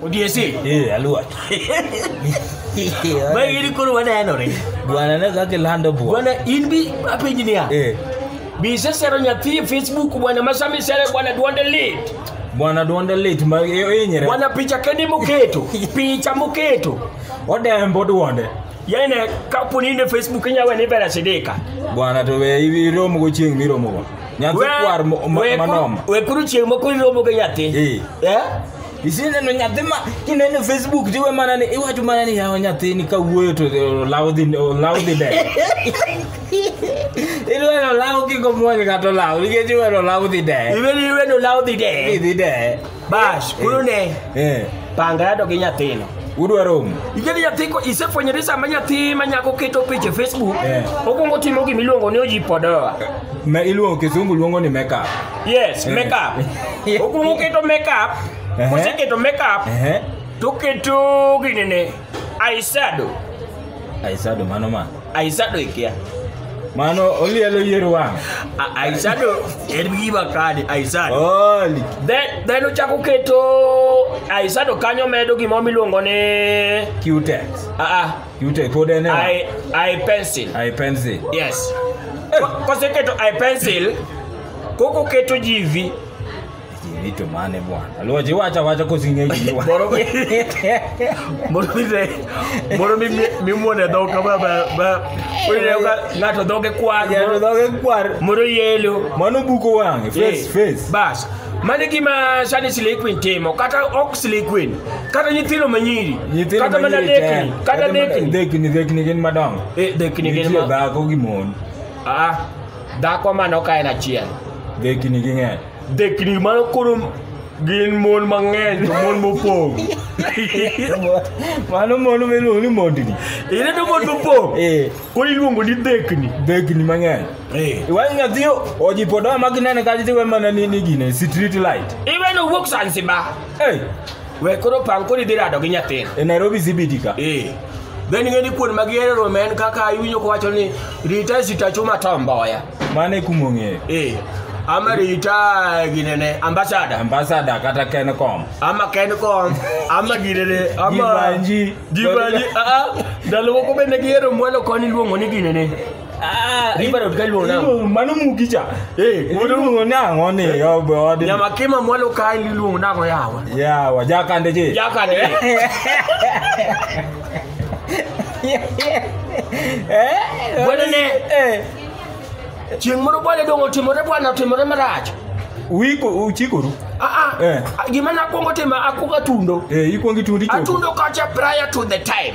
Odiesi. Eh, aluach. Mae gini koro wanenore. Bwana ne kaka ilando bwana. Bwana in bi apenji niya. Eh. Bi isesero nyathi e Facebook bwana ma sama isere bwana duonde lit. Bwana duonde lit ma e- e- inyere. Bwana picha kende moketo. Picha moketo. Odembo duonde. yaye ne kapo ni ne facebook inya we ni bere sidika bwana to we ibi romo go chieng miromo go nyathi We- kwar mo- ma- we- manoma we kuru chieng moko iromo gi nyathi Eh. Eh? isineno nyathi ma kineno facebook tiwe mana ni iwacho mana ni yawa nyathi ni kawuoyo to olaw dhi olaw dhi dede ilweno olaw kiko muony kata olaw nikech iweno olaw dhi dede iwe ni iwe no law dhi de idhi dede bash koro ne Eh, panga yado gi nyathino udwa romo Igeni nyathi ko isefwenyore sama nyathi ma nyako keto picha e Facebook Eh. okwongo timo gima iluongo ni ojipodoa ma iluongo kisungu luongo ni makeup yes Eh. makeup okwongo keto makeup Ehe. koseketo makeup Ehe. toketo ginene aisado aisado mano ma Aisado ikia. Mano olielo yier wang'. A- Aisado en gima kani Aisado. Oli. Then then ochako keto Aisado kanyo medo gima miluongo ni Q-Tex. a a Q-Tex pod en e wang'. I I pencil. I pencil. Yes. Ko- Koseketo I pencil koko keto jivi Vitu mane bwana. Aliwaje wacha wacha kusinge jiwa. Moro mi- moro mi te- moro mi- mi- mimuone dhok kama ba- ba- ineno ka ng'ato dhoge kwar Ya moro- ndoge kwar. moro yelo Mano buko wange face Eh, face. bas mano e gima sani slay queen timo kata ok slay queen kata nyithindo manyiri Nyithindo kata mana manyiri te. dekni kata dekni Dekni dekni gin madongo. Eh, dekni gin Nitie ma- dhako gi mon. Ah, dhako mano ka en achiel Dekni ging'eny. Dekni mano koro gin mon mang'eny to mon mopong'. Mano mon miluongo ni mondni. Ine to mon mopong'. Eh. Koro iluongo ni dekni. Dekni mang'eny. Eh. Iwang' nyathi ojipo dawa ma ginene ka tiwe mana ni ni gine street light. Iwe no wuok Zanzibar. Eh. We koro pang koro idhi rado gi nyathini. E Nairobi CBD ka. Eh. Be ning'e ni kuon ma gihero romo en kaka iwinjo kowacho ni rita sitachuma tomboya. Mano e kuma ong'eyo. Eh. Ama rita ginene ambasada. Ambasada kata Kencom. Ama Kencom. Ama ginene. Ama Gibanji. Gibanji. Ah, ah. Ndalo moko bende gihero mwalo koni luongo ni ginene. Ah, riba dot ka luonao. Iluongo- Mano mugi cha. Eh, Iluongo ni ang'o ni obe odi. Nyama kima mwalo ka iluongo nako yawa. Yawa, jakande je. Jaka ne. Bwana ne. Eh, Chieng' moro bwana dong' otimore bwana otimore marach. Wiko uchikoru. Ah ah. Eh. Gima nakwongo timo akwongo atundo. Eh, ikwongi tundi chopo. Atundo kacha prior to the time.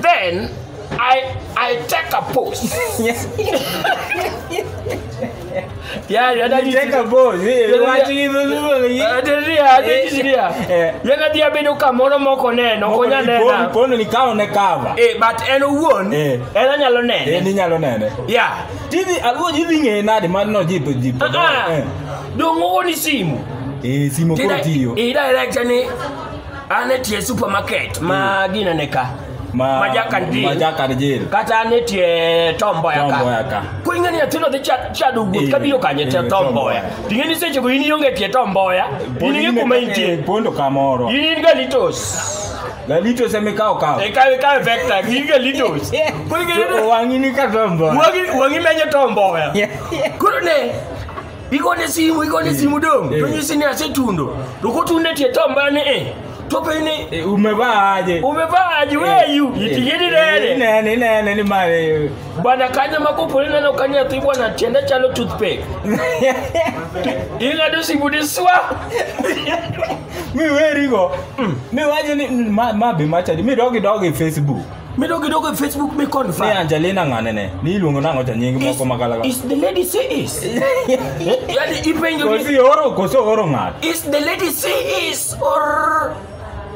Then I I take a pose. yeah, yeah, that is Take a pose. Eh, Yeah, watu yeah. hivyo hivyo ni- Adiria, adiria. Eh. Yana dia bedo kamoro moko neno, Moko konya ni pon- nena. pon ni kawo ne cover. Eh, but en owuon, Eh. en anyalo Eh, nene. ni nyalo nene. Yeah. Tidhi aluo ji dhi ng'eye nade mar no jipo jipo. Ah, ah. Dongo ni simu. Eh, simo Did koro I, tiyo. did I like any an e tie supermarket ma hmm. ginene ka ma, ma jakan jil ma jakan jil kata an e tie tomboya ka tomboya ka ko ing'e ni nyathino dhi chado wuoth eh, kabiro kanye tie eh, tomboya ting'e ni seche go in ionge tie tomboya in ing'e kuma intie pondo kamoro in in galitos Galitos eme kao kao. E kawe kawe vector, gi galitos. Kuri galitos. Wangi ni ka tombo. Wangi wangi menye tombo. Kuri ne. igone simu igone simu dong to nyisi ni asetundo to kotunde tie tombane e tope ni Eh, umevaa aje umevaa aje weyu itigidi nene nene nene ni mare bwana kanya makopole neno kanya thi bwana tiende chalo toothpick ing'ado simu ni swa mi werigo mi wacho ni ma, ma be machadi mi dogi dogi facebook Midogi dogo e Facebook mi confirm. Ni Angelina ng'ane ne? Ni iluongo nang'o cha nying moko makala. Is the lady she is? Yaani ipenjo ni. Kosi oro kosi oro ng'at. Is the lady she is or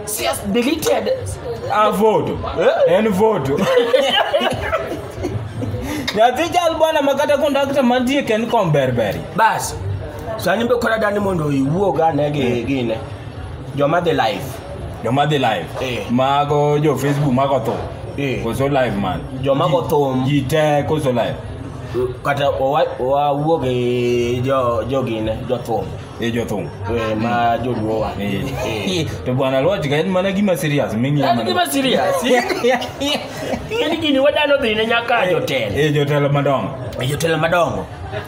she has deleted a vote. Eh? En vote. Nyathi jal bwana makata kondakta mantie ken komberberi. Bas. Sani be kora dani mondo iwuog ane gi gine. Joma dhi live. joma dhi live Eh. mago jo facebook mago tho Eh. koso live man Joma go thum. ji te koso live kata owa- wawuo gi jo- jogine jothum e jothum eh, ma joluowa Eh. to bwana loch ka en mana gima serious ming'iyo An mana- gima serious. in gini wadano dhine nyaka jotelo e jotelo madongo e jotelo madongo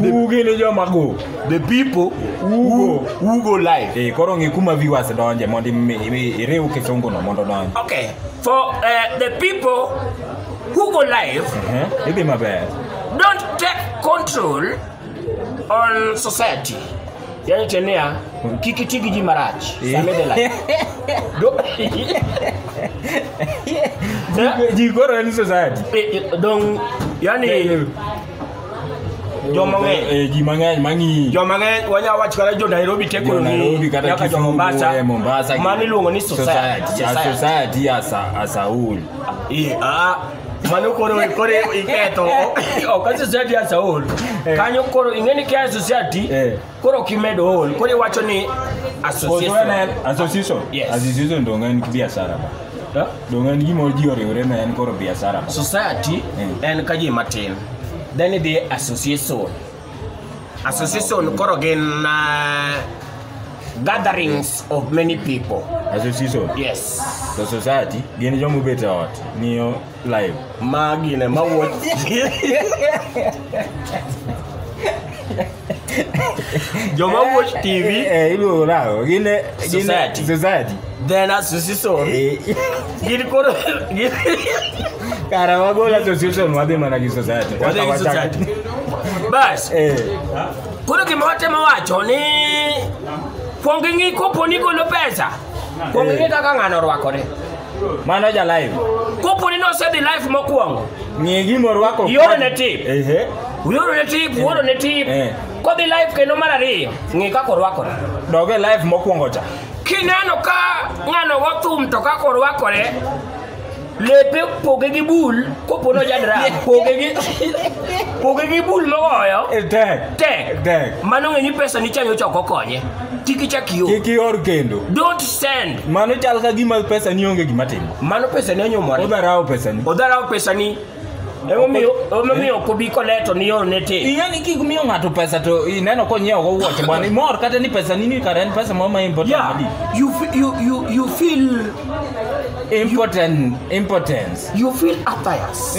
Uge ni joma go. The people who, who go live. Eh, koro ng'i kuma viewers donje mondo imi- imi- iriw kisungu no mondo donje. Okay, for uh, the people who go live, Eh, Idhi maber. don't take control on society. Yani tenia, kik iti gi ji marach. Same the life. Do- Ji koro en society. Eh, eh, Dong, yani Joma ng'eny. Eh, ji mang'eny mang'iyi joma ng'eny wanyalo wacho kata jo nairobi Jo tekoni Nairobi kata nyaka jo Kisumu, eh, mombasa Mombasa mano iluongo ni society Society. A society. society as a- as a whole. Iye, ah, mano koro koro iketho ok a society as a whole kanyo koro ing'eni kia society Eh. Koro ok imedo ol, koro iwacho ni association. Association. Yes. Association donge en biashara ba. Huh? Donge en gima ji oriwore na en koro biashara ba. Society mm. en ka ji matin. Then the association. Association koro gin uh, gatherings of many people. Association. Yes. So society gin jomubet e ot. Niyo live magine mawuot joma watch tv Eh, eh, iluongo nang'o gin eh, gin- Society. society then association Eh, gin koro gin kara wagol association wadhi mana gi society Wadhi gi society. bas Eh, koro gima watemo wacho ni kwong ing'i kopo ni golo pesa kwong ing'i kaka ng'ano orwakore Mano ja live. Kopo ni nosedhi live mokwongo. Ng'e gima orwako. Ioro ne tip. Ehe. Ioro ne tip, ioro ne tip. Eh. Kodhi live kendo mar ariyo, ng'e kaka orwakore. Dog e live mokwongo cha. Kineno ka ng'ano go thum to kaka orwakore, lepe poge gi bul kopo no jadra poge gi poge gi bul mogoyo e, tek tek tek mano ng'e ni pesa ni chanyo choko konye kik ichak ior kik ior kendo don't send mano chal ka gima pesa ni onge gima timo mano pesa ni onyomore odharawo pesa ni odharawo pesa ni emomiyo emomiyo ok obi koleto ni yor ne te ing'e ni kik miyo ng'ato pesa to ineno konyiewo go wuoche bwana imor kata ni pesa ni ni kare en pesa moro ma important yeah madi you fe- you you you feel important importance you feel attires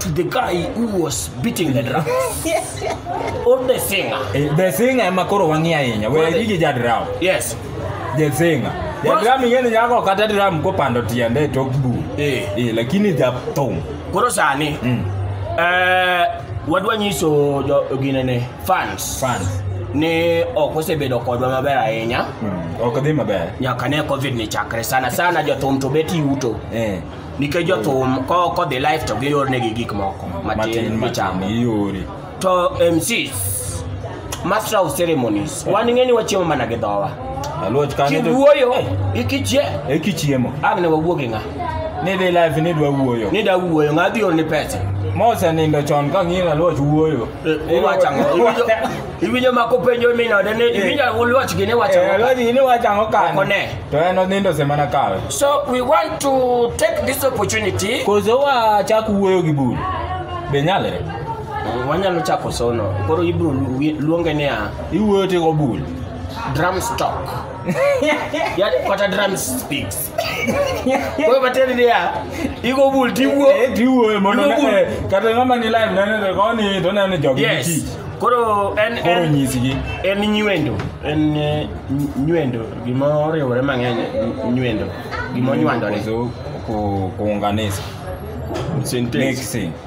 to the guy who was beating the drum or the singer. Eh, The singer ema koro wang'i ahinya. We Wale. gigi ja drum. Yes. The singer. Ja Bas- drum ing'eni nyako kata drum kopando tiende to ok bu. Eh. Eh, lakini ja thum. Koro sani Mm. eh, wadwa nyiso jo- ginene fans Fans. ni ok osebedo kodwa maber ahinya Mm. Ok dhi maber. nyaka ne covid ni chakre sana sana jothum to bet yuto Eh. nikech jothum ko- kodhi live to giyornegi gik moko matin michamo iore to mcs master of ceremonies wan ing'e ni wachiemo mana gi dhowa aluoch kane to- kiwuoyo ikichie e kichiemo ang' ne wawuo gi ng'a ni dhi live ni dwa wuoyo ni da wuoyo ng'a dhi orni pesa mosenindo chon ka ng'iyo aluoch wuoyo Iwacho ang'o? Iwinjo- Iwinjo ma kopenjo min ode ni iwinjo wach gini wacho ang'o? Lodi ni wacho ang'o kani? Ok one. To en onindo sema na kawe. So we want to take this opportunity. Koso wachak wuoyo gi bul. Be nyalre? Wanyalo chako sono. Koro ibro lu- wi- luonge niya Iwuoyo tigo bul. drum stock. Yaani kata drum sticks. Wewe bateri ni ya. Iko bul tiwuo. Eh, tiwuo mondo Igo bul. eh, kata ng'ama ni live nene to koni to nene jogi gi Yes. tich. Koro en Koro en nyisgi. en nywendo. En eh, ny- nywendo gima oriwore mang'eny ny- nywendo. Gima onywandore. Kuzo- ku- Kuunganisha. Sentence. Mixing.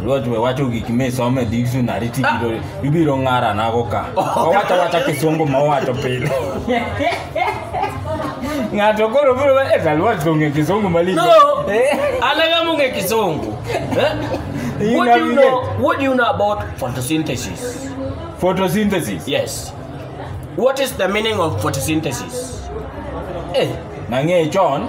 Alwach we wacho gik misomo e dictionary ti ibiro- ibiro ng'ara nago ka. Owacho wacha kisungu ma owacho pile. Ng'ato koro biro wa- eh, Alwach to ong'e kisungu malich. No, Eh, anang'a mong'e kisungu. Eh? You What do you navigate. know? What do you know about photosynthesis? Photosynthesis. Yes. What is the meaning of photosynthesis? Eh, Nang'e chon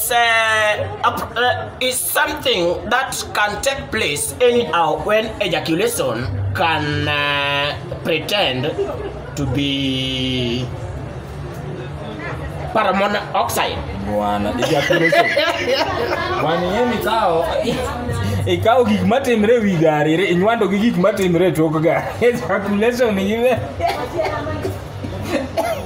It's, uh, uh, it's something that can take place anyhow when ejaculation can uh, pretend to be carbon oxide. Bwana, ejaculation. Bwana, yeye ni kao. Ikao gik matimre wi gari, re- inywando gi gik matimre tok gari. Ejaculation ni gibe.